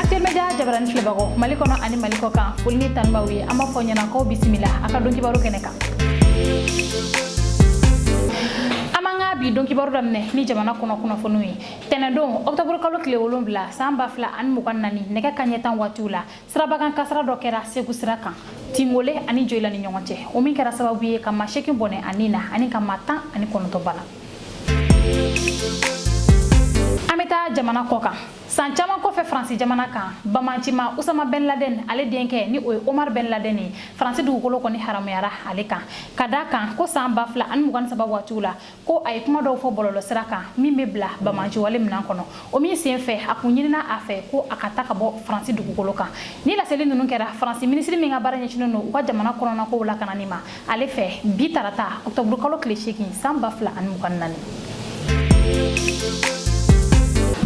Actuel Media jabarani filɛbagaw Mali kɔnɔ ani Mali kɔ kan foli ni tanu b'aw ye an b'a fɔ ɲɛna k'aw bisimila an ka don kibaru kɛnɛ kan an b'an ka bi don kibaru daminɛ ni jamana kɔnɔ kunnafoniw ye tɛnɛdon ɔkutɔburu kalo tile wolonwula san ba fila ani mugan naani nɛgɛ kaɲɛ tan waatiw la sirabakan kasara dɔ kɛra segu sira kan tingole ani joyila ni ɲɔgɔn cɛ o min kɛra sababu ye ka maa seegin bɔnɛ a ni na ani ka maa tan ani kɔnɔntɔn bana an bɛ taa jamana kɔ kan san caman kɔfɛ faransi jamana kan bamancima usama ben laden ale denkɛ ni o ye omar ben laden ye faransi dugukolo kɔni haramuyara ale kan ka da a kan ko san ba fila ani mugan saba waatiw la ko a ye kuma dɔw fɔ bɔlɔlɔ sira kan min bɛ bila bamanciwale minan kɔnɔ o min sen fɛ a kun ɲinina a fɛ ko a ka taa ka bɔ faransi dugukolo kan ni laseli ninnu kɛra faransi minisiri min ka baara ɲɛsinnen don u ka jamana kɔnɔnakow lakanani ma ale fɛ bi tarata ɔkutɔburukalo tile seegin san ba fila ani mugan naani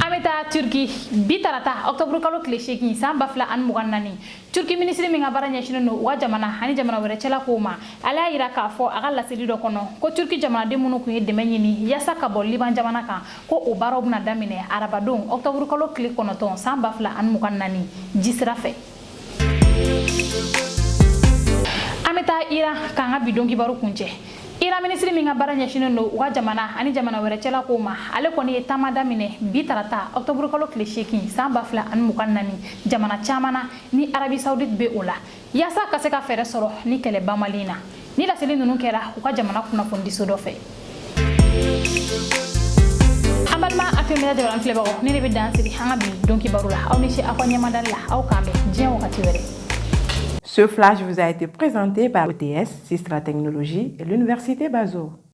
an bɛ taa turki bi tarata ɔkutɔburukalo tile seegin san ba fila ani mugan naani turki minisiri min ka baara ɲɛsinnen don u ka jamana ani jamana wɛrɛ cɛla kow ma ale y'a yira k'a fɔ a ka laseli dɔ kɔnɔ ko turki jamanaden minnu kun ye dɛmɛ ɲini yaasa ka bɔ liban jamana kan ko o baaraw bɛna daminɛ arabadon ɔkutɔburukalo tile kɔnɔntɔn san ba fila ani mugan naani jisira fɛ an bɛ taa iran k'an ka bidon kibaru kuncɛ iran minisiri min ka baara ɲɛsinnen don u ka jamana ani jamana wɛrɛ cɛla kow ma ale kɔni ye taama daminɛ bi tarata ɔkutɔburukalo tile seegin san ba fila ani mugan naani jamana caman na ni arabi saudite bɛ o la yaasa ka se ka fɛɛrɛ sɔrɔ ni kɛlɛ banbali in na Ni laseli ninnu kɛra u ka jamana kunnafonidiso dɔ fɛ an balima Actuel Media jabarani filɛbagaw nin de bɛ dan sigi an ka bi don kibaru la aw ni ce aw ka ɲɛmadali la aw k'an bɛn diɲɛ wagati wɛrɛ Ce flash vous a été présenté par ETS, Sistra Technologie et l'Université Bazo.